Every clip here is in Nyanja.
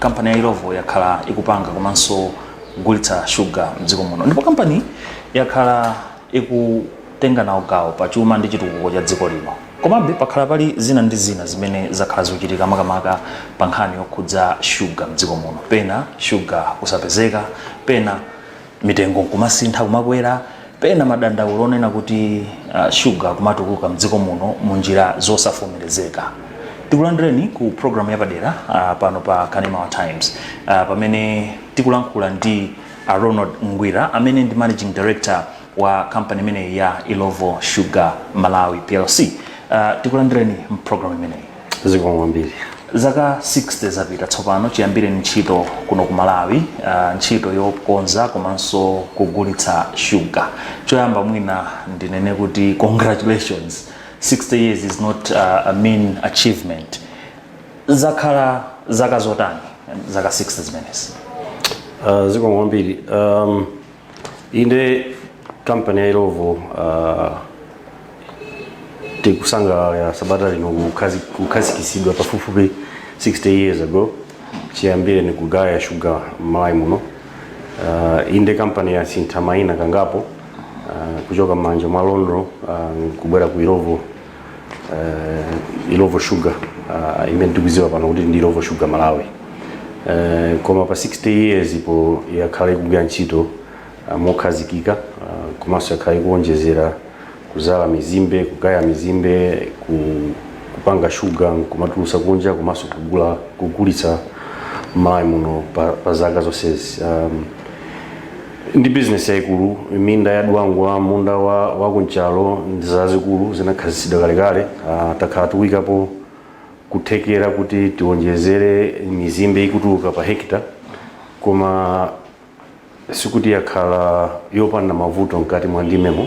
kampani ya ilovo yakhala ikupanga komanso kugulitsa shuga mdziko muno ndipo kampani yakhala ikutenga nawo gawo pa chuma ndi chitukuko cha dziko lino komabe pakhala pali zina ndi zina zimene zakhala zikuchitika makamaka pa nkhani yokhudza shuga mdziko muno pena shuga kusapezeka pena mitengo nkumasintha kumakwera pena madandaulo onena kuti uh, shuga kumatuluka mdziko muno mu njira zosavomerezeka tikulandireni ku programu yapadera uh, pano pa kanema wa times uh, pamene tikulankhula ndi a ronald ngwira amene ndi managing director wa kampani imeneyi ya ilovo sugar malawi plc uh, tikulandireni mprogramu imeneyi zikomo kwambiri zaka 60 zapita tsopano chiyambireni ntchito kuno ku malawi uh, ntchito yokonza komanso kugulitsa shuga choyamba mwina ndinene kuti congratulations 60 years is not uh, a mean achievement zakhala zaka zotani zaka 60 zimenezi uh, zikomo kwambiri um, inde kampani ya ilovo uh, tikusangalala sabata lino kukhazi- kukhazikisidwa pafupifupi 60 years ago chiyambireni kugaya shuga m'malawi muno uh, inde kampaniyi yasintha maina kangapo uh, kuchoka m'manja mwa lonrho uh, kubwera ku ilovo uh, ilovo sugar uh, imene tikuziwa pano kuti ndi ilovo sugar malawi uh, koma pa 60 years iyo yakhala ikugwira ntchito uh, mokhazikika uh, komanso yakhala ikuonjezera kuzala mizimbe kugaya mizimbe ku, kupanga shuga kumatulusa kunja komanso kugula kugulitsa mmalawi muno pa, pa zaka zonsezi um, ndi bizinesi yaikulu minda ya dwangwa munda wa, wa ku nchalo ndi zazikulu zinakhazitsidwa kalekale uh, takhala tikuikapo kuthekera kuti tionjezere mizimbe ikutuluka pa hekita koma sikuti yakhala yopanda mavuto mkati mwa ndimemo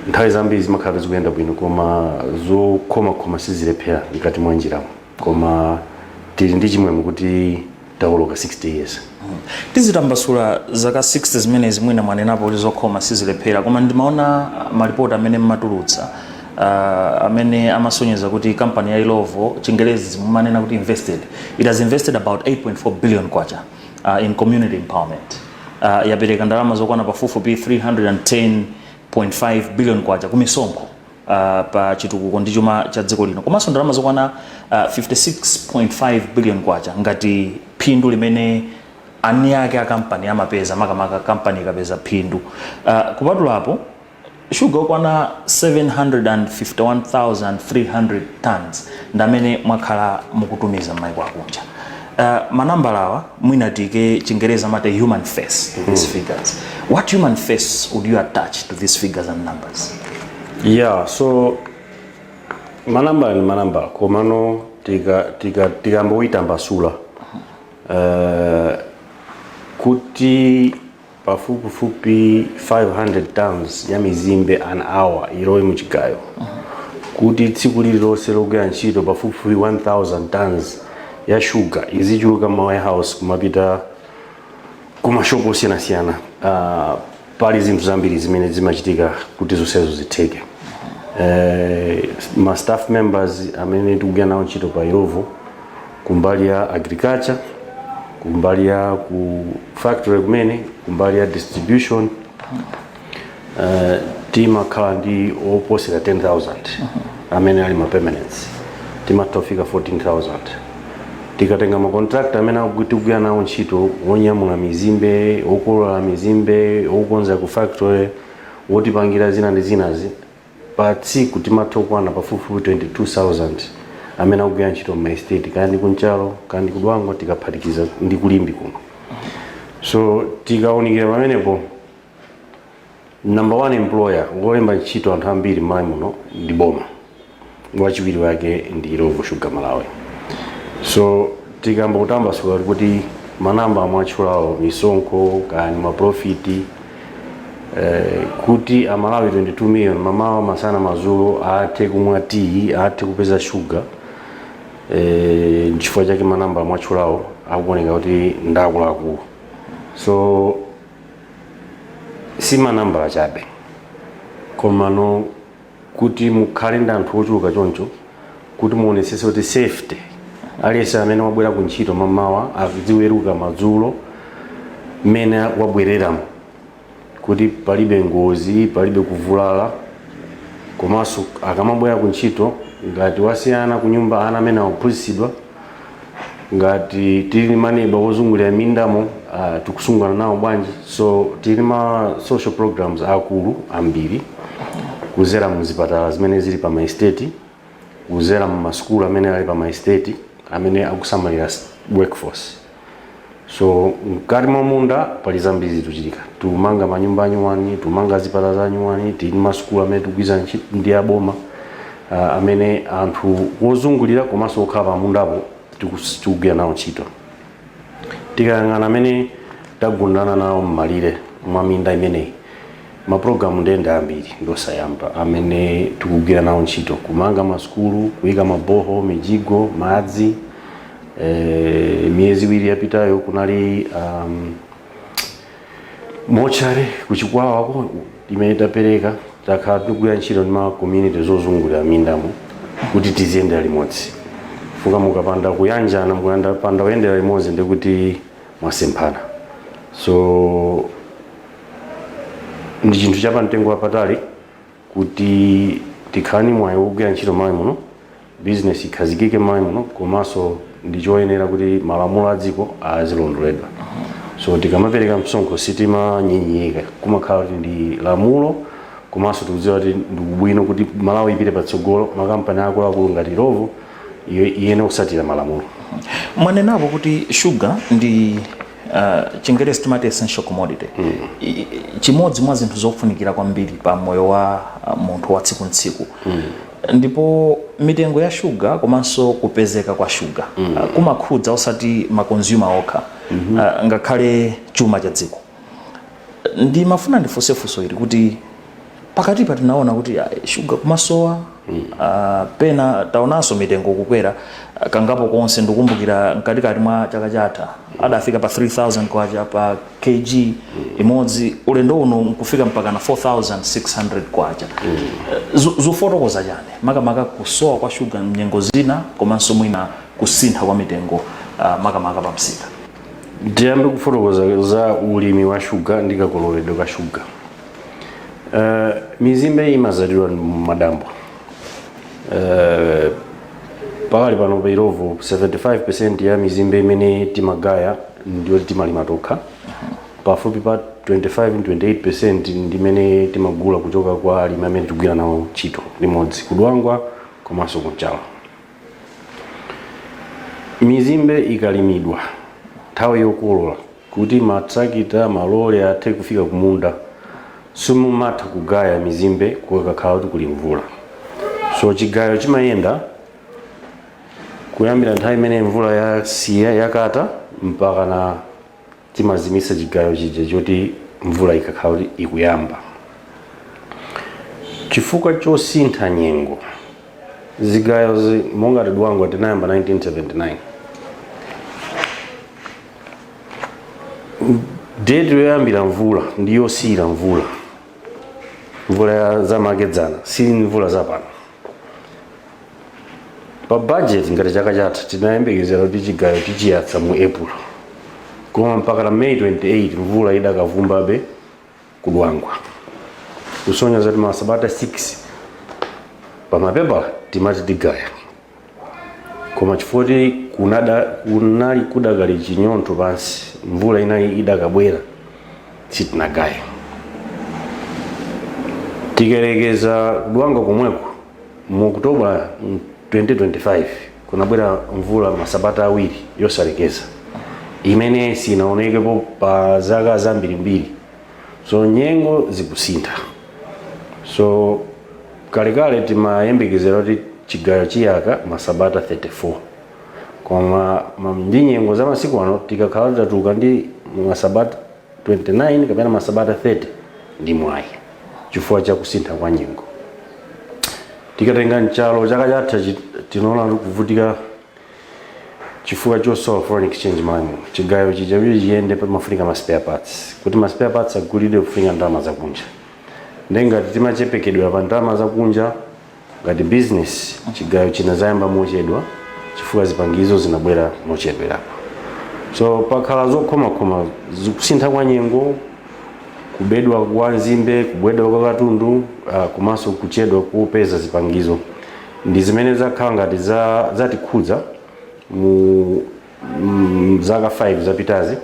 nthawi zambiri zimakhala zikuyenda bwino koma zokhomakhoma sizilephera mkati mwa njiramo koma tili ndi chimwemwe kuti tawoloka 60 years tizitambasula zaka 60 zimenezi mwina mwanenapo kuti zokhoma sizilephera koma ndimaona malipoti amene mmatulutsa uh, amene amasonyeza kuti kampani ya ilovo chingelezi mumanena kuti invested it has invested about 8.4 billion kwacha uh, in community empowerment uh, yapereka ndalama zokwana pafupifupi 310.5 billion kwacha kumisonkho pa chitukuko ndi chuma cha dziko lino komanso ndalama zokwana uh, 56.5 billion kwacha ngati phindu limene eni ake a kampani amapeza makamaka kampani ikapeza phindu uh, kupatula apo shuga okwana 751,300 tons ndamene mwakhala mukutumiza m'maiko akunja Uh, manambala awa mwina tike chingereza amati human face to these mm. figures what human face would you attach to these figures and numbers yeah so manambala ni manambala komano tikamboitambasula tika, tika uh, eh, kuti pafupifupi 500 tons ya mizimbe an hour ilowe mu chigayo kuti tsiku lililonse logwira ntchito pafupifupi 1000 tons ya shuga izichuluka ma warehouse kumapita kumashopu osiyanasiyana uh, pali zinthu zambiri zimene zimachitika kuti zonsezo zitheke uh, ma staff members amene tikugwira nawo ntchito pa Illovo kumbali ya agriculture kumbali ya ku factory kumene kumbali ya distribution uh, timakhala ndi oposera 10000 amene ali ma permanents timatha kufika 14000 tikatenga makontrakta amene aku- tikugwira nawo ntchito wonyamula mizimbe wokolola mizimbe wokonza ku factory wotipangira zina ndi zinazi Pa tsiku timatha kukwana pafupifupi 22,000 amene akugwira ntchito m'ma estate kaya ndi ku Nchalo kaya ndi ku Dwangwa tikaphatikiza ndi ku Limbe kuno so tikawunikira pamenepo number one employer wolemba ntchito anthu ambiri m'Malawi muno ndi boma wachiwiri wake ndi Illovo Sugar Malawi so tikamba kutambasula kuti manambala mwatchulawo misonkho kani maprofiti eh, kuti amalawi 22 million mamawa masana mazulo athe kumwa tiyi athe kupeza shuga eh, nchifukwa chake manambala mwatchulawo akuoneka kuti ndakuluakulu so si manambala chabe komano kuti mukhale ndi anthu ochuluka choncho kuti muonesese kuti safety aliyense amene wabwera ku ntchito mamawa aziweruka madzulo mmene wabwereramo kuti palibe ngozi palibe kuvulala komanso akamabwera ku ntchito ngati wasiya ana ku nyumba ana amene akuphunzitsidwa ngati tili ni maneba wozungulira mindamo uh, tikusungana nawo bwanji so tili ni ma social programs akulu ambiri kuzera mu zipatala zimene zili pa maesteti kuzera mu masukulu amene ali pa maesteti amene akusamalira s- workforce so mkati mwa munda pali zambiri zikuchitika tikumanga manyumba anyuwani tikumanga zipatala zanyuwani tili ndi masukulu amene tikugwirizana ndi aboma ah, amene anthu wozungulira komanso okhala pa mundapo tikus- tikugwira nawo ntchito tikayang'ana amene tagundana nawo mmalire mwa minda imeneyi Mapulogalamu ndiye ndi ambiri ndi osiyanasiyana amene tikugwira nawo ntchito, kumanga masukulu, kuyika ma borehole, mijigo, madzi. Eh, miyezi iwiri yapitayo kunali um, mochari ku Chikwawako imene tapereka takhala tikugwira ntchito ndi ma community ozungulira mindamo kuti tiziyendera limodzi chifukwa mukapanda kuyanjana mukapanda kuyendera limodzi ndikuti mwasemphana so ndi chinthu cha pamtengo wapatali kuti tikhale ni mwayi wogwira ntchito m'Malawi muno bizinesi ikhazikike m'Malawi muno komanso ndi choyenera kuti malamulo a dziko azilondoledwa so tikamapereka msonkho sitimanyinyirika kumakhala kuti ndi lamulo komanso tikudziwa kuti ndi ubwino kuti Malawi ipite patsogolo makampani akuluakulu ngati Illovo iye- iyenera kutsatira malamulo mwanenapo kuti shuga ndi Uh, chingerezi timati essential commodity mm. I- i- chimodzi mwa zinthu zofunikira kwambiri pa moyo wa uh, munthu wa tsiku ndi tsiku mm. ndipo mitengo ya shuga komanso kupezeka kwa shuga mm. uh, kumakhudza osati makonzuma okha mm-hmm. uh, ngakhale chuma cha dziko ndimafuna ndifunse funso ili kuti pakatipa tinaona kuti ah, shuga kumasowa ah, pena taonanso mitengo kukwera ah, kangapo konse ndikumbukira mkatikati mwa chaka chatha adafika pa 3000 kwacha pa kg imodzi ulendo uno nkufika mpaka na 4600 kwacha Eh, zo- zofotokoza chiyani makamaka kusowa kwa shuga mnyengo zina komanso mwina kusintha kwa mitengo ah, makamaka pa msika tiyambe kufotokoza za ulimi wa shuga ndi kakololedwe ka shuga Uh, mizimbe imadzalidwa mumadambo uh, pakali pano pa Illovo 75 percent ya mizimbe imene timagaya ndi yoti timalima tokha pafupi pa 25 28 percent ndi imene timagula kuchoka kwa alimi amene timagwira nawo ntchito limodzi ku Dwangwa komanso ku Nchalo mizimbe ikalimidwa nthawi yokolola Kuti matrakita, malole athe kufika kumunda simumatha kugaya mizimbe kukakhala kuti kuli mvula. So chigayo chimayenda kuyambira nthawi imene mvula yasiya yakata mpakana timazimitsa chigayo chija choti mvula ikakhala kuti ikuyamba. Chifukwa chosintha nyengo, zigayozi monga ku Dwangwa tinayamba 1979. deti yoyambira mvula ndi yosiyira mvula mvula zamakedzana si mvula zapano pa budget ngati chaka chatha tinayembekezera kuti chigayo tichiyatsa mu April koma mpaka na May 28 mvula idakavumbabe ku Dwangwa kusonyeza kuti masabata 6 pamapepala timati tigaya koma chifukwa kuti kunada kunali kudakali chinyontho pansi mvula inali idakabwera sitinagaye tikayerekeza ku Dwangwa komweko Mu October 2025, kunabwera mvula masabata awiri yosalekeza imene sinaonekepo pa zaka zambirimbiri. So nyengo zikusintha. So kalekale timayembekezera kuti chigayo chiyaka masabata 34 koma ndi nyengo za masiku ano tikakhala titatuka ndi masabata 29 kapena masabata 30 ndi mwayi chifukwa cha kusintha kwa nyengo tikatenga Nchalo chaka chatha chi- tinaona kuvutika chifukwa chosowa foreign exchange money chigayo chija kuti chiyende pamafunika ma spare parts kuti ma spare parts agulidwe kufunika ndalama zakunja nde ngati timachepekedwa pa ndalama zakunja Ngati bizinesi, chigayo chinadzayamba mochedwa chifukwa zipangizo zinabwera mochedwerapo. So pakhala zokhomakhoma zikusintha kwa nyengo, kubedwa kwa nzimbe, kubedwa kwa katundu uh, komanso kuchedwa kupeza zipangizo ndi zimene zakhala ngati za, zatikhudza mu mzaka 5 zapitazi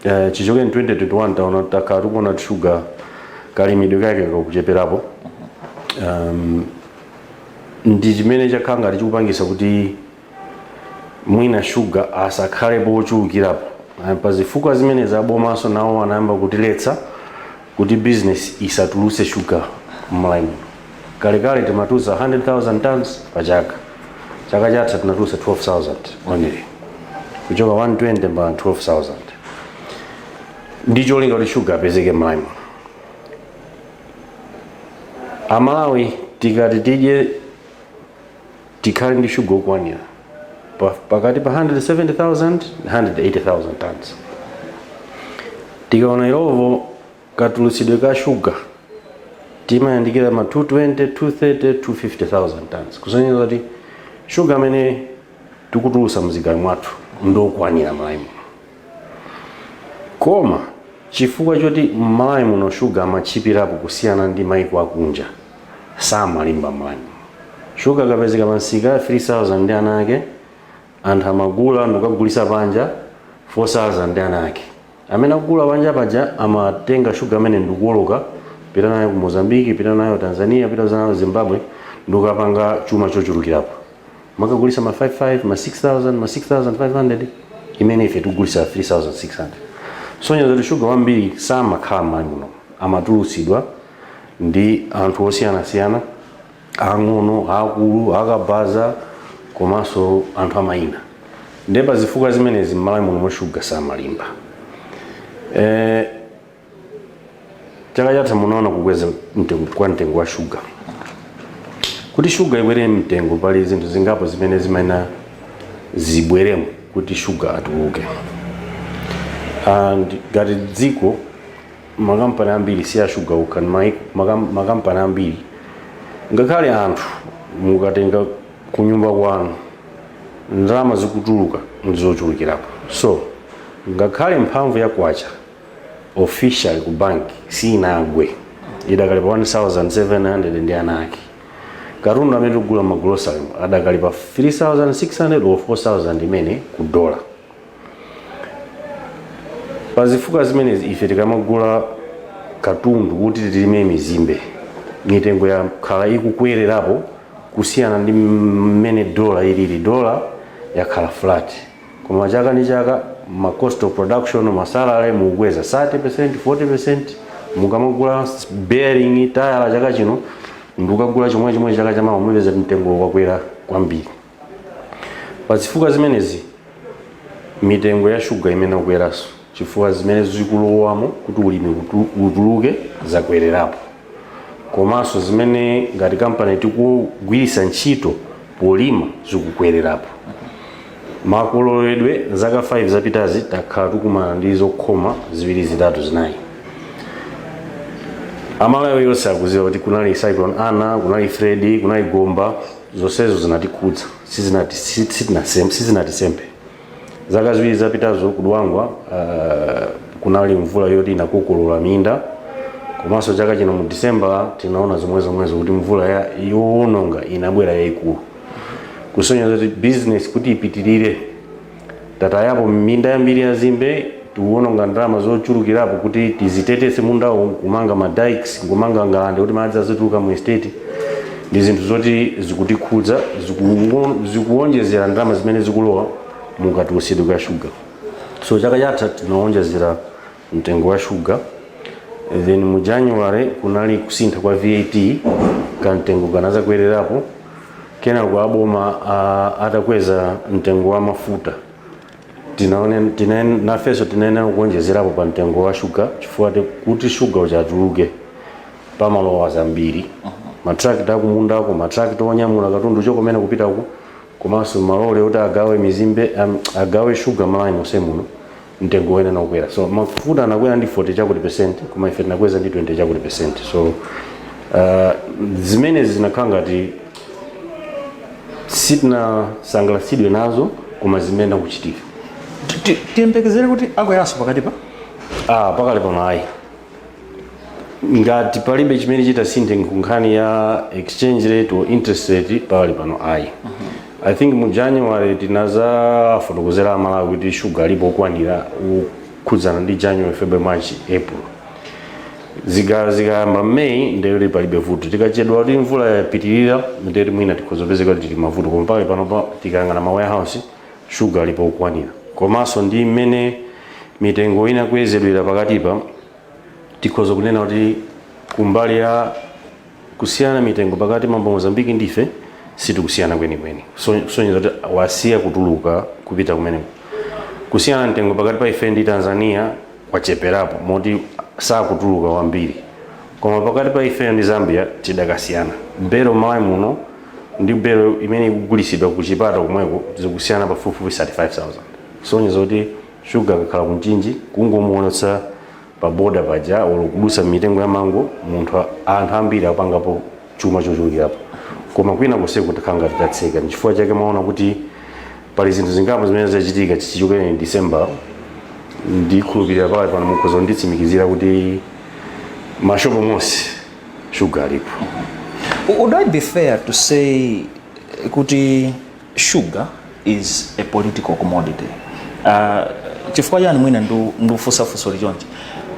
eh, chichokereni 2021 taona takhala tikuona kuti shuga kalimidwe kake kakucheperapo um, ndi chimene chakhala ngati chikupangisa kuti mwina shuga asakhalepo ochulukirapo Eh, pa zifukwa zimene abomanso nawo anayamba kutiletsa kuti business isatulutse sugar mMalawi muno kalekale timatulutsa 100000 tons pa chaka chaka chatha tinatulutsa 12000 only kuchoka 120 mpaka 12000 ndi cholinga kuti sugar apezeke mMalawi muno Amalawi tikati tidye tikhale ndi shuga okwanira pa- pakati pa 170,000 ndi 180,000 tons tikaona Illovo katulutsidwe ka shuga timayandikira ma 220 230 250,000 tons kusonyeza kuti shuga amene tikutulutsa mzigayo mwathu ndokwanira mMalawi muno koma chifukwa choti mMalawi muno shuga amatchipirapo kusiyana ndi maiko akunja Samalimba mmalawi muno. Shuga akapezeka pa msika 3000 ndi ana ake, anthu amagula ndikukagulisa panja 4000 ndi ana ake. Amene akugula panja paja amatenga shuga amene ndikuwoloka pita nayo ku Mozambique, pita nayo Tanzania, pita nayo Zimbabwe ndikukapanga chuma chochulukirapo. Amakagulisa ma 55, ma 6000, ma 6500 imene ife tikugulisa 3600. Kusonyeza kuti shuga wambiri samakhala mmalawi muno, amatulusidwa ndi anthu osiyanasiyana ang'ono akulu akabaza komanso anthu a mayina nde pa zifukwa zimenezi mmalawi muno mu shuga samalimba eh, chaka chatha munaona kukweza kwa mtengo wa shuga kuti shuga ikwere mtengo pali zinthu zingapo zimene zimayenera zibweremo kuti shuga atuluke and ngati dziko makampani ambiri si ashuga okha ayi ma- makam- makampani ambiri ngakhale anthu mukatenga kunyumba kwanu ndalama zikutuluka ndizochulukirapo so ngakhale mphamvu ya kwacha official ku banki sinagwe idakali pa 1700 ndi ana ake katundu amene tikugula mmagulosale adakali pa 3600 or 4000 imene ku dola pa zifukwa zimenezi ife tikamagula katundu kuti tilime mizimbe mitengo yakhala ikukwererapo kusiyana ndi mmene dola ilili dola yakhala flat koma chaka ndi chaka ma cost of production masalary mukukweza 30% 40% mukamagula bearing tayala chaka chino ndikukagula chomwe chomwe chaka chamawa mupeza mtengo wakwera kwambiri pa zifukwa zimenezi mitengo ya shuga imayenera ikwerenso chifukwa zimene zikulowamo kuti ulimi utu- utuluke zakwererapo komanso zimene ngati kampani tikugwiritsa ntchito polima zikukwererapo makololedwe, zaka 5 zapitazi takhala tikumana ndi zokhoma ziwiri zitatu zinayi amalawi onse akuziwa kuti kunali cyclone Ana kunali Freddy kunali Gombe zonsezo zinatikhudza sizinati si- sitinasem- sizinatisemphe zaka ziwiri zapitazo ku Dwangwa uh, kunali mvula yoti inakokolola minda komanso chaka chino mu disemba tinaona zomwe zomwezo kuti mvula ya- yowononga inabwera yayikulu kusonyeza kuti business kuti ipitirire tatayapo minda yambiri ya nzimbe tikuwononga ndalama zochulukirapo kuti tiziteteze mundawo kumanga ma dikes kumanga ngalande kuti madzi azituluka mu estate ndi zinthu zoti zikutikhudza ziku- zikuwonjezera ndalama zimene zikulowa mu katulusidwe ka shuga so chaka chatha tinawonjezera mtengo wa shuga then mu january kunali kusintha kwa vat kamtengo kanazakwererapo kenako aboma a- atakweza mtengo wa mafuta tinaone tina, nafeso tinayenera kuwonjezerapo pa mtengo wa shuga chifukwa te- kuti shuga uchatuluke pamalowa zambiri mathirakita akumundako mathirakita onyamula katundu chokomena kupita uko komanso malole oti agawe mizimbe am- agawe shuga Malawi monse muno mtengo unayenera kukwera so mafuta anakwera ndi 40 chakuti percent koma ife tinakweza ndi 20 chakuti percent so uh, zimenezi zinakhala ngati sitinasangalatsidwe nazo koma zimene zikuchitika Ti- tiyembekezere kuti akweranso pakatipa ah pakali pano ayi ngati palibe chimene chitasinthe nkhani ya exchange rate or interest rate pakali pano ayi i think mu january tinazafotokozera amalawi kuti shuga alipo okwanira kukhudzana ndi january february march april zika zikayamba mmeyi ndeyoti palibe vuto tikachedwa kuti mvula yapitirira ndeyoti mwina tikhoza kupezeka kuti tili mavuto koma pakali pano pa- tikayang'ana ma warehouse shuga alipo okwanira komanso ndi mmene mitengo inakwezedwera pakatipa tikhoza kunena kuti kumbali ya kusiyana mitengo pakati pa Mozambique ndi ife sitikusiyana kwenikweni So- kusonyeza kuti wasiya kutuluka kupita kumeneko kusiyana mtengo pakati pa ife ndi tanzania kwacheperapo moti sakutuluka wambiri Koma pakati pa ifeyo ndi Zambia tidakasiyana. Belo m'Malawi muno ndi belo imene ikugulitsidwa ku Chipata komweko tikusiyana pafupifupi 35,000. Kusonyeza kuti Shuga akakhala ku Mchinji, kungomuonetsa pa boda paja olo kudutsa m'mitengo ya mango, munthu anthu ambiri apangapo chuma chochulukirapo. Koma kwina konseku takhala ngati tatseka. N'chifukwa chake mwaona kuti pali zinthu zingapo zimene zachitika chichokereni december ndikhulupirira pali pano mukhoza kunditsimikizira kuti mashopo monse shuga alipo Would it be fair to say kuti sugar is a political commodity? Uh, chifukwa chani mwina ndu- ndikufunsa funso ili chonchi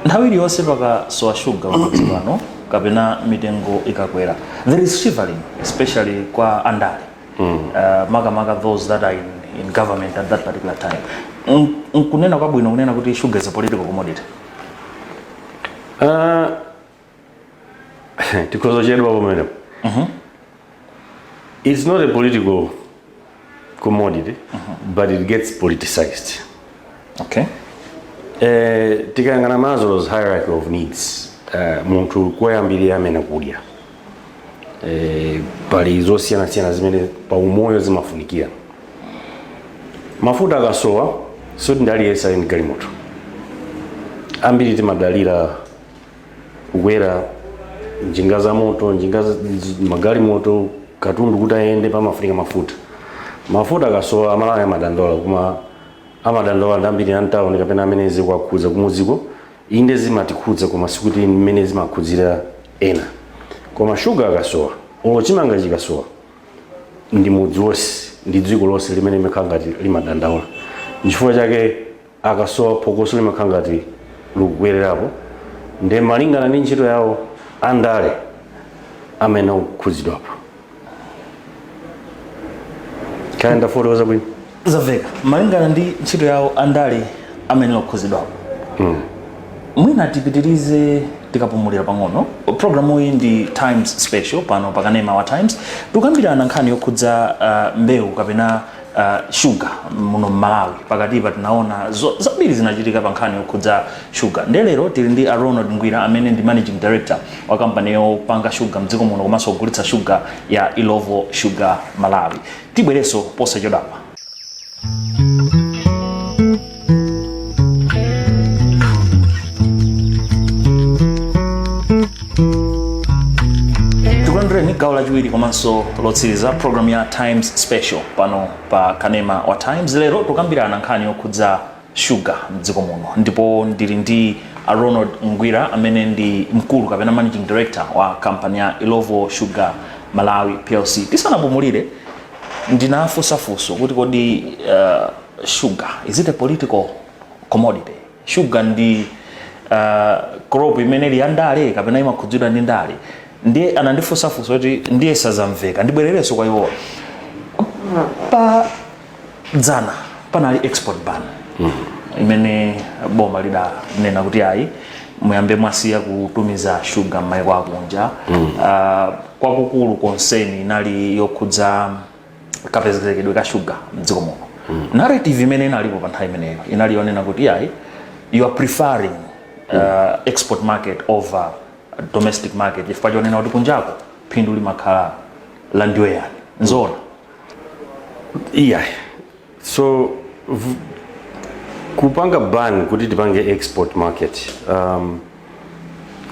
nthawi iliyonse pakasowa shuga pamudzi pano kapena mitengo ikakwera there is shivering especially kwa andale mm. uh, makamaka those that are in, in government at that particular time nkunena kwabwino kunena kuti sugar is a political commodity uh, tikhoza chedwa pamenepo mm -hmm. it's not a political commodity mm -hmm. but it gets politicized okay eh, tikayang'ana maslow's hierarchy of needs eh, munthu koyambirira amayenera kudya e, pali zosiyanasiyana zimene pa umoyo zimafunikira mafuta akasowa sikuti ndi aliyense ali ndi galimoto ambiri timadalira kukwera njinga za moto njinga za- z- magalimoto katundu kuti ayende pamafunika mafuta mafuta akasowa amalawi amadandaula koma amadandaula ndi ambiri amtawuni kapena amene zikuwakhudza kumudziko inde zimatikhudza koma sikuti mmene zimakhudzira ena koma shuga akasowa olo chimanga chikasowa ndi mudzi wonse ndi dziko lonse limene limakhala ngati limadandaula nchifukwa chake akasowa phokoso limakhala ngati likukwererapo nde malingana ndi ntchito yawo andale amene akukhudzidwapo kaya ndafotokoza bwino zamveka malingana ndi ntchito yawo andale amayenera kukhudzidwapo mwina tipitirize tikapumulira pang'ono programu iyi ndi times special pano pakanema wa times tikukambirana nkhani yokhudza uh, mbewu kapena uh, shuga muno mmalawi pakatipa tinaona zo- zambiri zinachitika pa nkhani yokhudza shuga nde lero tili ndi a ronald ngwira amene ndi managing director wa kampani yopanga shuga mdziko muno komanso kugulitsa shuga ya illovo sugar malawi tibwerenso posachedwapa tikulandireninso gawo lachiwiri komanso lotsiriza programu ya times special pano pa kanema wa times lero tikukambirana nkhani yokhudza shuga mdziko muno ndipo ndili ndi a ronald ngwira amene ndi mkulu kapena managing director wa kampani ya illovo sugar malawi plc tisanapumulire ndinafunsa funso kuti kodi uh, sugar is it a political commodity sugar ndi uh, crop imene ili yandale kapena imakhudzidwa ndi ndale ndiye anandifunsa funso kuti ndiye sizamveka ndibwererenso kwa iwowa pa dzana panali export ban imene boma lidanena kuti ayi muyambe mwasiya kutumiza shuga m'maiko akunja Ah, kwakukulu concern inali yokhudza kapezekedwe ka shuga mdziko muno mm. narrative imene inalipo pa nthawi imeneyo inali yonena kuti ayi you are preferring uh, export market over domestic market chifukwa chonena kuti kunjako phindu limakhala la ndiwe yani nzoona iyayi so v- kupanga ban kuti tisapange export market um,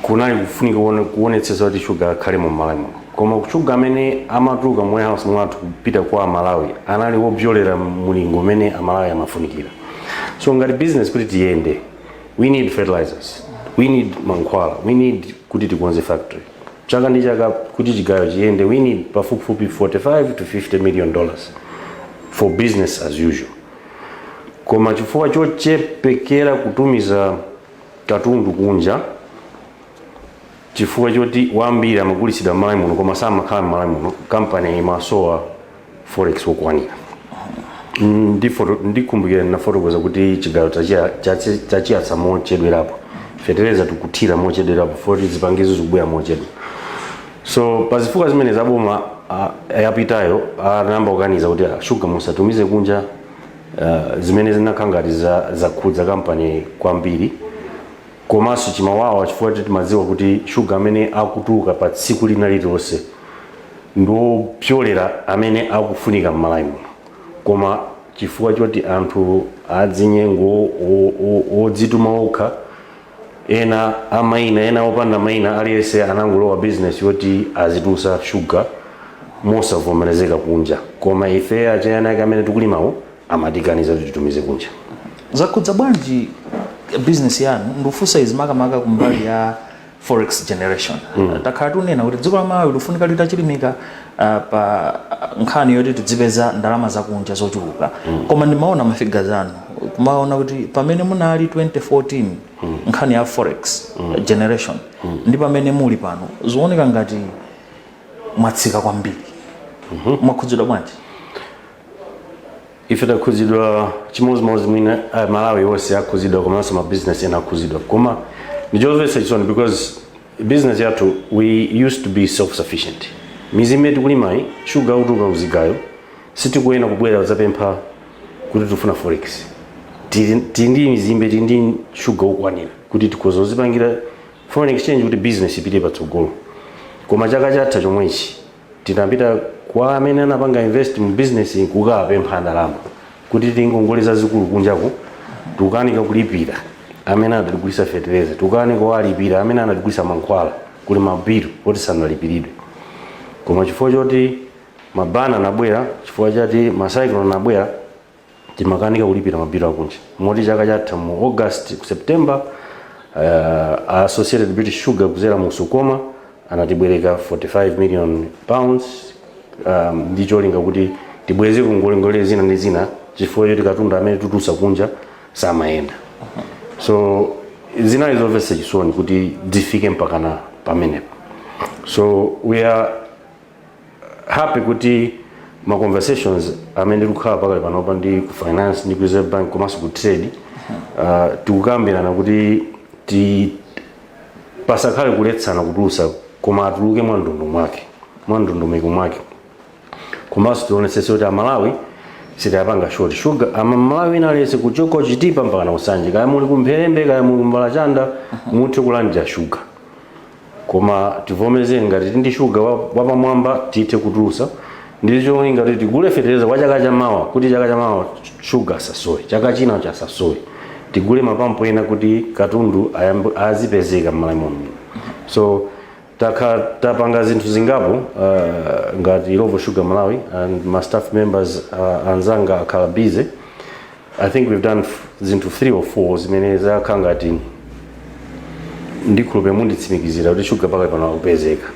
kunali kufunika kuone- kuonetsetsa kuti shuga akhale mu malawi muno koma shuga amene amatuluka mu warehouse mwathu kupita kwa amalawi anali wopyolera mulingo umene amalawi amafunikira so ngati business kuti tiyende we need fertilizers we need mankhwala we need kuti tikonze factory Chaka ndi chaka kuti chigayo chiyende we need pafupifupi 45 to 50 million dollars for business as usual koma chifukwa chochepekera kutumiza katundu kunja chifukwa choti wambiri amagulitsidwa m'malawi muno koma samakhala m'malawi muno kampani imasowa forex wokwanira Mm, ndi foto- ndikumbukira ndinafotokoza kuti chigayo tachia- chachi- tachiyatsa mochedwerapo fetereza tikuthira mochedwerapo poti zipangizo zikubwera mochedwa so pa zifukwa zimene zaboma ah, yapitayo anayamba kukaniza kuti ah, shuga musatumize kunja ah, zimene zinakhala ngati za- zakhudza kampani kwambiri Komanso chimawawa chifukwa timadziwa kuti shuga amene akutuluka pa tsiku lina lililonse ndi wopyolera amene akufunika m'Malawi muno. Koma chifukwa choti anthu adzinyengo, odzituma okha, ena a maina ena opanda maina, aliyense anangolowa bizinesi yoti azitulutsa shuga mosavomerezeka kunja. Koma ife achieni ake amene tikulimawo. amatikaniza kuti titumize kunja zakhudza bwanji business yanu ndikufunsa izi makamaka kumbali ya forex generation takhala tikunena kuti dziko la malawi likufunika litachilimika ah, pa ah, nkhani yoti tidzipeza ndalama zakunja zochuluka koma ndimaona mafiga zanu kumaona kuti pamene munali 2014 nkhani ya forex generation ndi pamene muli pano zikuoneka ngati mwatsika kwambiri mwakhudzidwa bwanji ife takhuzidwa chimodzimodzi mwina uh, malawi wonse akhuzidwa komanso mabizinesi ena akhuzidwa koma ndichomvetsa chisoni because business yathu we used to be self sufficient mizimbe imene tikulimayi shuga akutuluka kuzigayo sitikuyena kubwera kudzapempha kuti tifuna forex tili tili ndi mizimbe tili ndi shuga wokwanira kuti tikhoza kuzipangira foreign exchange kuti business ipite patsogolo koma chaka chatha chomwechi Tinapita kwa amene anapanga invest mu business yi kukawapempha ndalama kuti tili ndi ngongole zazikulu kunjaku tikukanika kulipira amene anatigulitsa fetereza, tikukanika kuwalipira amene anatigulitsa mankhwala, kuli ma bill oti sanalipiridwe. Koma chifukwa choti ma ban anabwera, chifukwa choti ma cyclone anabwera, timakanika kulipira mabilu akunja moti chaka chatha mu august ku september uh, associated british sugar kuzera mu sukoma anatibwereka 45 million pounds um, ndi cholinga kuti tibweze ngongolengongole zina ndi zina chifukwa choti katundu amene tikutulutsa kunja samayenda so zinali zomvetsa chisoni kuti zifike mpakana pamenepo so we are happy kuti ma conversations amene tikukhala pakadali panopa ndi ku finance ndi ku reserve bank komanso ku trade uh, tikukambirana kuti ti pasakhale kuletsana kutulusa koma atuluke mwa ndondomeko mwake mwa ndondomeko mwake komanso tionetsetse kuti amalawi sitaapanga short sugar amalawi ina lonse kuchoka kuchitipa mpaka ku nsanje kaya muli kumpherembe kaya muli kumbalachanda muthe kulandira shuga koma tivomereze ngati tili ndi shuga wa- wapamwamba tithe kutulusa ndi cholinga kuti tigule fetereza wa chaka chamawa kuti chaka chamawa shuga asasowe chaka chinacho asasowe tigule mapampu ena kuti katundu ayambe- azipezeka m'malawi muno so takha tapanga zinthu zingapo uh, ngati illovo sugar malawi and my staff members uh, anzanga akhala busy i think we've done f- zinthu 3 or 4 zimene zakhala ngati ndikhulupirira munditsimikizira kuti shuga pakadali pano akupezeka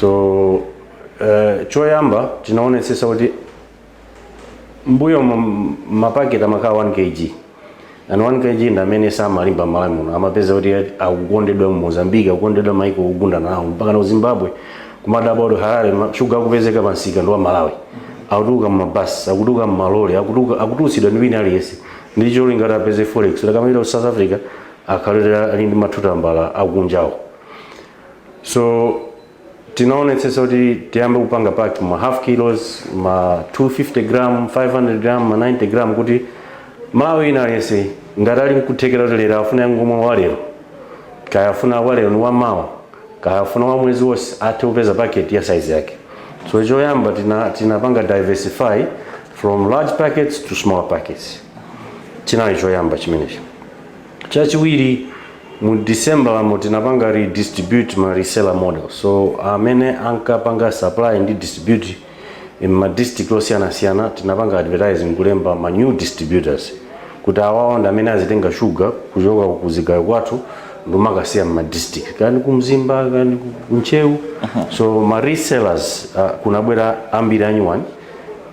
so uh, choyamba tinaonetsetsa kuti m'mbuyomu mapaketi amakhala 1 kg and 1 kg ndi amene samalimba malawi muno amapeza kuti akukondedwa mu mozambique akukondedwa maiko ogundana nawo mpaka na zimbabwe kumadabwa kuti harare ma- shuga akupezeka pa msika ndi wa malawi akutuluka mmabasi akutuluka mmalole akutuluka- akutulutsidwa ndi wina aliyense ndi cholinga kuti apeze forex kuti akamapita ku south africa akhalire ali ndi ma two tambala akunjawo so tinaonetsetsa kuti tiyambe kupanga pack ma half kilos ma 250 gram 500 gram ma 90 gram kuti mmalawi wina aliyense ngati ali nkuthekera kuti lero afuna angomwa walero kaya afuna walero ndi wamawa kaya afuna wa mwezi wonse athe kupeza packet ya size yake so choyamba tina tinapanga diversify from large packets to small packets chinali choyamba chimenechi chachiwiri mu december yomwe tinapanga redistribute ma reseller model so amene ankapanga supply ndi distribute m'ma district osiyanasiyana tinapanga advertise nkulemba ma new distributors kuti awawa ndi amene azitenga shuga kuchoka ku zigayo kwathu n'kumakasiya m'ma district kaya ndi ku mzimba kani ku- ku ntcheu so ma resellers uh, kunabwera ambiri anyuwani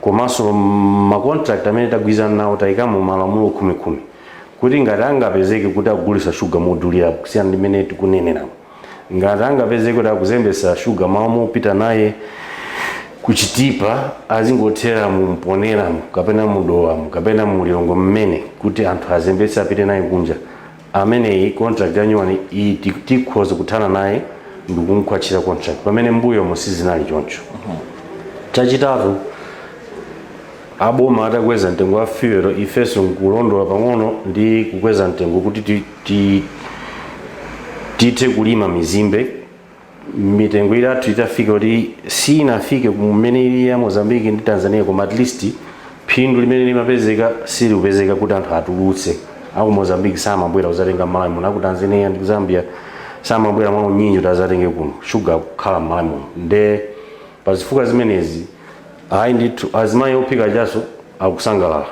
komanso ma contract amene tagwirizana nawo tayikamo malamulo khumi khumi kuti ngati angapezeke kuti akugulitsa shuga modulira kusiyana ndi mmene tikuneneramu ngati angapezeke kuti akuzembesa shuga m'malo mopita naye kuchitipa azingothera mumponeramu kapena mudowamu kapena mulilongwe mmuno kuti anthu azembetse apite naye kunja ameneyi contract yanyuwani iyi ti- tikhoza kuthana naye ndikumkhwatchira contract pamene m'mbuyomu sizinali choncho chachitatu aboma atakweza mtengo wa fuel ifenso nkulondola pang'ono ndi kukweza mtengo kuti ti- ti tithe kulima mizimbe mitengo yathu itafika kuti sinafike kumene ili ya mozambique ndi tanzania koma at least phindu limene limapezeka silikupezeka kuti anthu atulutse aku mozambique samabwera kudzatenga mmalawi muno aku tanzania ndi zambia samabwera mwa unyinji kuti adzatenge kuno shuga kukhala mmalawi muno nde pa zifukwa zimenezi ayi ndithu azimayi ophika kachasu akusangalala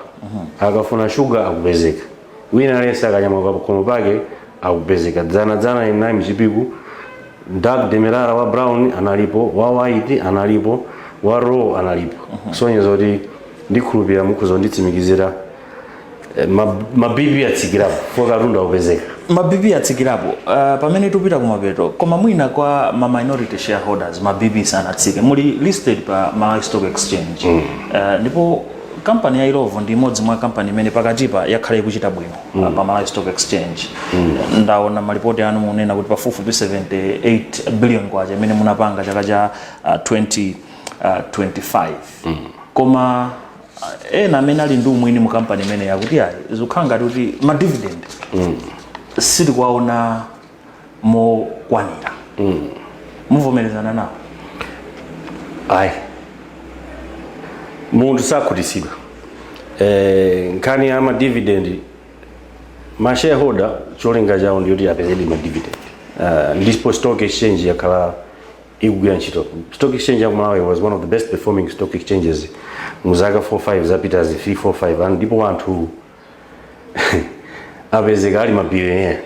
akafuna shuga akupezeka wina aliyense akanyamuka pakhomo pake akupezeka dzana dzana ndinali mchipiku dark demerara wa brown analipo wa white analipo wa raw analipo kusonyeza kuti ndikhulupirira mukhoza kunditsimikizira eh, ma- ma bp atsikirapo poti katundu akupezeka ma bp atsikirapo uh, pamene tupita kumapeto koma mwina kwa ma minority shareholders ma bp sanatsike muli listed pa malawi stock exchange mm. uh, ndipo Kampani ya Illovo ndi imodzi mwa kampani imene pakatipa yakhala ikuchita bwino mm. pa Malawi Stock Exchange mm. ndaona malipoti anu mukunena kuti pafupifupi 78 billion kwacha imene munapanga chaka cha uh, 20 uh, 25 mm. koma uh, ena amene ali ndi umwini mu kampani imeneyi akuti ayi zikukhala ngati kuti ma dividend mm. sitikuwaona mokwanira mukuvomerezana nawo ayi munthu sakhutitsidwa eh, nkhani ya madividend ma shareholder cholinga chawo ndiyoti apeze madividend uh, ndipo stock exchange yakhala ikugwira ntchito stock exchange ya ku malawi was one of the best performing stock exchanges mu zaka 45 zapitazi 345 and ndipo anthu apezeka ali mabilionea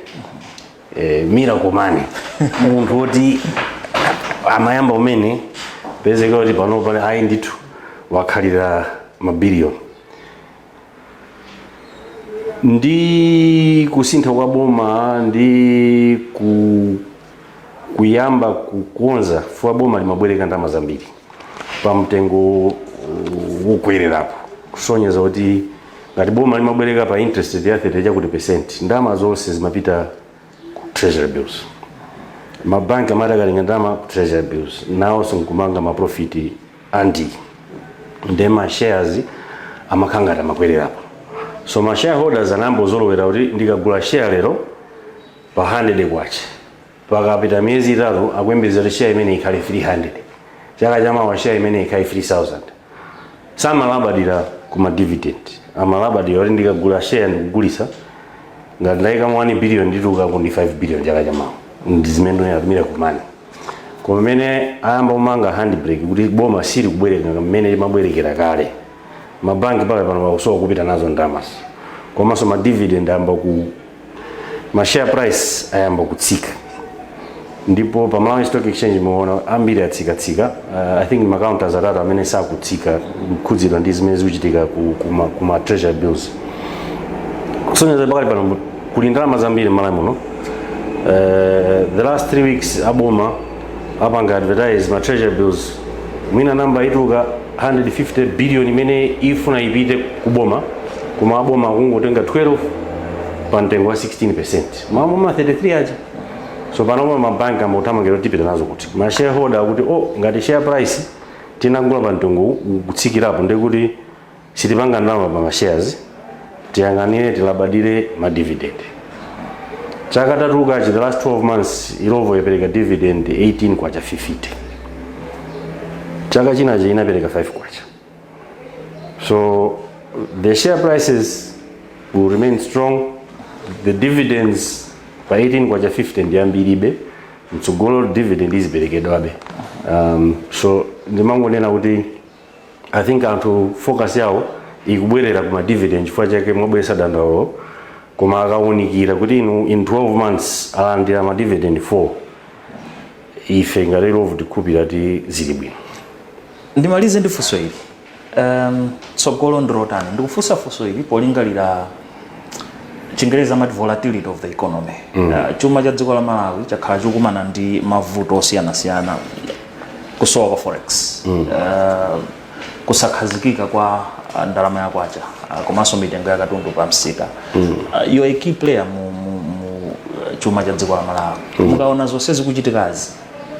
eh, miracle money munthu woti amayamba kumene kupezeka kuti pano pali ayi ndithu wakhalira mabiliyoni ndi kusintha kwa boma ndi ku kuyamba kukonza chifukwa boma limabwereka ndalama zambiri pa mtengo wokwererapo kusonyeza kuti ngati boma limabwereka pa interest rate ya 30 chakuti percent ndalama zonse zimapita ku treasury bills mabanki amati akatenga ndalama ku treasury bills nawonso nkumapanga maprofiti ambiri nde ma shares amakhala ngati amakwererapo so ma shareholders anayamba kuzolowera kuti ndikagula share lero pa handede kwacha. Pakapita miyezi itatu akuyembekeza kuti share imeneyi ikhale 300. Chaka chamawa share imeneyi ikhale 3000. Samalabadira ku ma dividend. Amalabadira kuti ndikagula share ndikugulitsa ngati ndayikamo 1 billion nditulukako ndi 5 billion chaka chamawa. Ndi zimene ndinena kuti miracle money. Koma mmene ayamba kumanga handbrake kuti boma silikubwereka mmene limabwerekera kale. Mabanki pakali pano akusowa kopita nazo ndalamazo. Komanso ma dividend ayamba ku ma share price ayamba kutsika ndipo pa Malawi Stock Exchange muona ambiri atsikatsika uh, I think ma counters atatu amene sakutsika akukhudzidwa ndi zimene zikuchitika ku, ku, ma, ku ma treasury bills kusonyeza pakali pano kuli ndalama zambiri m'malawi muno Eh, the last three weeks aboma apanga advertise ma treasury bills mwina namba ikutuluka 150 billion imene ifuna ipite ku boma koma aboma akungotenga 12 pa mtengo wa 16% m'malo mwa 33 aja so panopa mabanki ayamba kuthamangira kuti tipita nazo kuti ma shareholder akuti oh ngati share price tinagula pa mtengo uwu, ukutsikirapo ndiye kuti sitipanga ndalama pa ma shares tiyang'anire tilabadire ma dividend chaka tatulukachi the last 12 months Illovo yapereka dividend 18 kwacha 50 chaka chinacho inapereka 5 kwacha so the share prices will remain strong the dividends pa 18 kwacha 50 ndi yambiribe mtsogolo dividend iziperekedwabe um, so ndimangonena kuti I think anthu focus yawo ikubwerera kuma dividend chifukwa chake mwabweretsa dandaulo koma akawunikira kuti in 12 months alandira ma dividend 4 ife ngati Illovo tikhulupirira kuti zili bwino ndimalize ndi funso ili um, tsogolo ndilotani ndikufunsa funso ili polingalira Chingerezi amati volatility of the economy mm. uh, chuma cha dziko la malawi chakhala chikukumana ndi mavuto osiyanasiyana kusowa kwa forex mm. uh, kusakhazikika kwa uh, ndalama ya kwacha uh, komanso mitengo ya katundu pa msika mm. uh, you're a key player mu, mu, mu uh, chuma cha dziko la malawi mm. mukaona zonse zikuchitikazi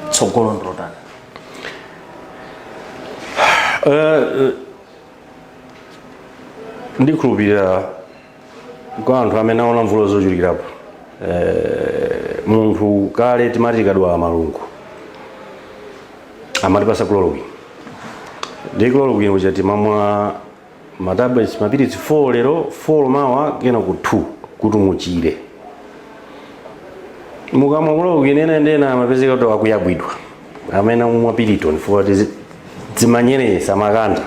tsogolo ndilotani ndikhulupirira kwa anthu amene aona mvula zochulukirapo eh, munthu kale timati tikadwala malungo amatipasa chloroquine ndi chloroquine uja timamwa ma mapilitsi 4 lero 4 mawa kenako 2 kuti muchire mukamwa chloroquine ena ndi ena amapezeka kuti akuyabwidwa amayamba kumwa piriton chifukwa choti zimanyerenyetsa makanda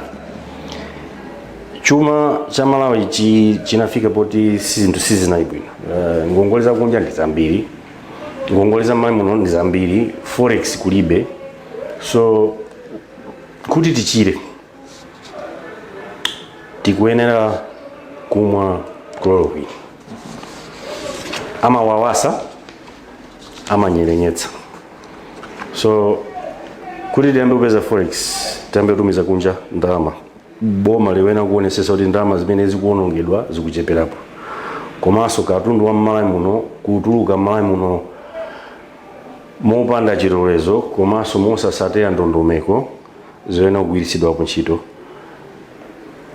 chuma cha malawi chi- chinafika poti si- zinthu sizinali bwino Eh, ngongole zakunja ndi zambiri ngongole za mmalawi muno ndi zambiri forex kulibe so kuti tichire tikuyenera kumwa chloroquine amawawasa amanyerenyetsa so kuti tiyambe kupeza forex tiyambe kutumiza kunja ndalama boma liyenera kuonesesa kuti ndalama zimene zikuonongedwa zikucheperapo komanso katundu wa mmalawi muno kutuluka mmalawi muno mopanda chilolezo komanso mosasatira ndondomeko zoyenera kugwiritsidwapo ntchito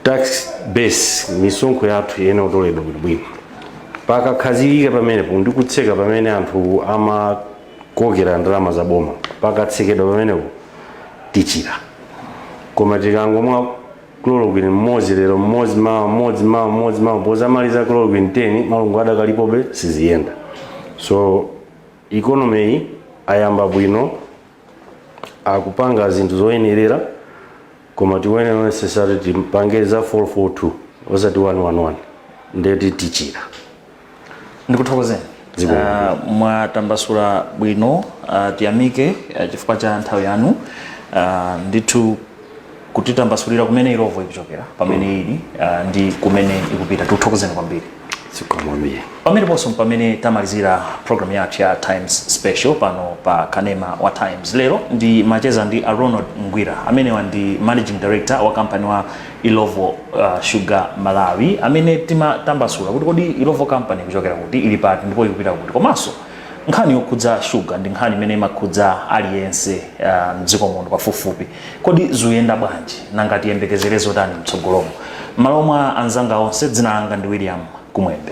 tax base misonkho yathu iyenera kutoledwa bwino pakakhazikika pamenepo ndi kutseka pamene anthu ama kokera ndalama za boma pakatsekedwa pamenepo tichira koma tikangomwa chloroquine mmodzi lero mmodzi mawa mmodzi mawa mmodzi mawa pozamaliza chloroquine 10 malungo adakalipobe siziyenda so ikonomeyi ayamba bwino akupanga zinthu zoyenerera koma tiyenera necessary tipange za 442 osati 111 ndeti tichira ndikuthokozeni Zikomo. Ah, mwatambasula bwino ah, tiyamike ah, chifukwa cha nthawi yanu Ah, ndithu kutitambasulira kumene Illovo ikuchokera pamene ili ah, ndi kumene ikupita tikuthokozeni kwambiri zikomo kwambiri pameneponso pamene tamalizira program yathu ya times special pano pa kanema wa times lero ndimacheza ndi a ronald ngwira amenewa ndi managing director wa kampani ya Illovo uh, Sugar Malawi amene timatambasula kuti kodi Illovo Company ikuchokera kuti ili pati ndipo ikupita kuti komanso nkhani yokhudza shuga ndi nkhani imene imakhudza aliyense uh, mdziko muno pafupifupi kodi zikuyenda bwanji nanga tiyembekezere zotani mtsogolomu m'malo mwa anzanga onse dzina langa ndi William Kumwembe